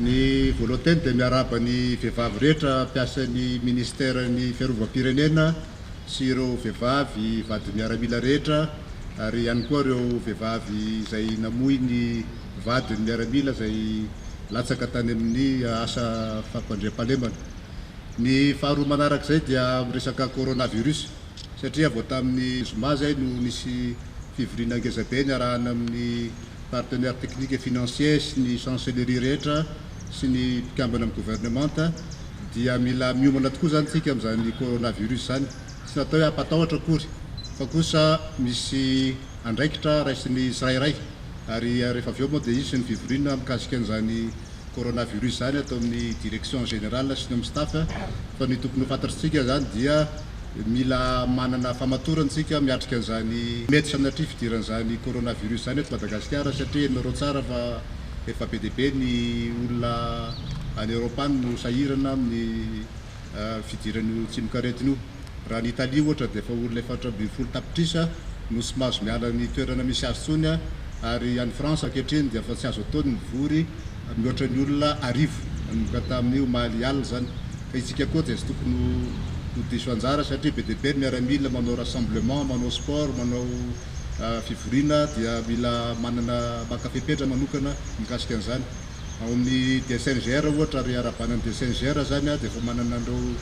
Ny Volontaine dia miarahaba ny vehivavy rehetra mpiasan'ny Ministeran'ny Fiarovam-pirenena sy ireo vehivavy vady miaramila rehetra ary ihany koa ireo vehivavy izay namoy ny vadiny miaramila izay latsaka tany amin'ny asa fampandriampahalemana. Ny faharoa manarak'izay dia amin'ny resaka coronavirus satria vao tamin'ny zoma izay no nisy fivoriana ngezabe niarahana amin'ny. partenaires techniques et financiers sy ny chancellerie rehetra sy ny mpikambana amin'ny gouvernementa dia mila miomana tokoa izany isika amin'izany coronavirus izany. Tsy natao hoe hampatahotra akory fa kosa misy andraikitra raisin'ny tsirairay ary rehefa avy eo moa dia hisy ny fivoriana mikasika an'izany coronavirus izany ato amin'ny direction générale sy ny amin'ny staff fa ny tokony ho fantatr'tsika izany dia mila manana famatorana isika miatrika an'izany mety sanatria fidiran'izany coronavirus izany eto Madagasikara satria henonareo tsara fa efa be dia be ny olona any Europe any no sahirana amin'ny fidiran'io tsimokaretina io. Raha any Italie ohatra dia efa olona efatra ambin'ny folo tapitrisa no tsy mahazo miala ny toerana misy azy intsony ary any France ankehitriny dia efa tsy azo atao ny mivory mihoatra ny olona arivo nanomboka tamin'ny omaly alina izany ka itsika koa dia tsy tokony ho ho diso anjara satria be dia be ny miaramila manao rassemblement manao sport manao fivoriana dia mila manana maka fepetra manokana mikasika an'izany. Ao amin'ny DSNGR ohatra ary arahabanan'ny DSNGR izany dia efa manana an'ireo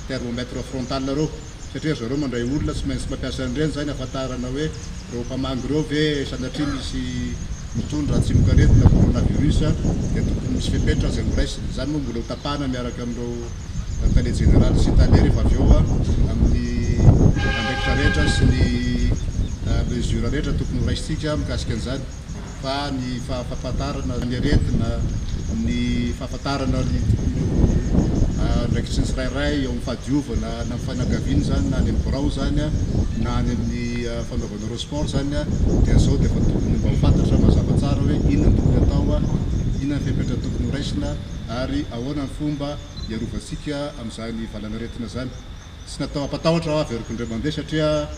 thermomètre frontal ireo satria ry zareo mandray olona tsy maintsy mampiasa an'ireny izany hahafantarana hoe ireo mpamangy ireo ve sanatria misy mitondra tsimokaretina coronavirus dia tokony misy fepetra izay horaisina. Izany moa mbola hotapahana miaraka amin'ireo tale jeneraly sy tale rehefa avy eo amin'ny andraikitra rehetra sy ny mesure rehetra tokony horaisintsika mikasika an'izany. fa ny fahafantarana ny aretina, ny fahafantarana ireo andraikitry ny tsirairay eo amin'ny fahadiovana na amin'ny fianakaviana izany na any amin'ny birao izany na any amin'ny fanaovana ireo sport izany dia izao dia efa tokony mba ho fantatra mazava tsara hoe inona no tokony atao, inona ny fepetra tokony ho raisina ary ahoana ny fomba hiarovantsika amin'izany valanaretina izany. Tsy natao hampatahotra aho avy ery Kondre Mande satria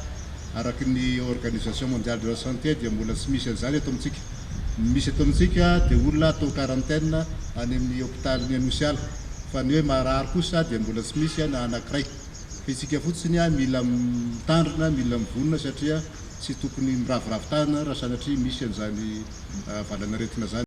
araka ny Organisation Mondiale de la Santé dia mbola tsy misy an'izany eto amintsika. Ny misy eto amintsika dia olona atao quarantaine any amin'ny hopitalin'ny Anosiala fa ny hoe marary kosa dia mbola tsy misy na anankiray. Fa isika fotsiny mila mitandrina, mila mivonona satria tsy tokony miraviravy tanana raha sanatria misy an'izany valan'aretina izany.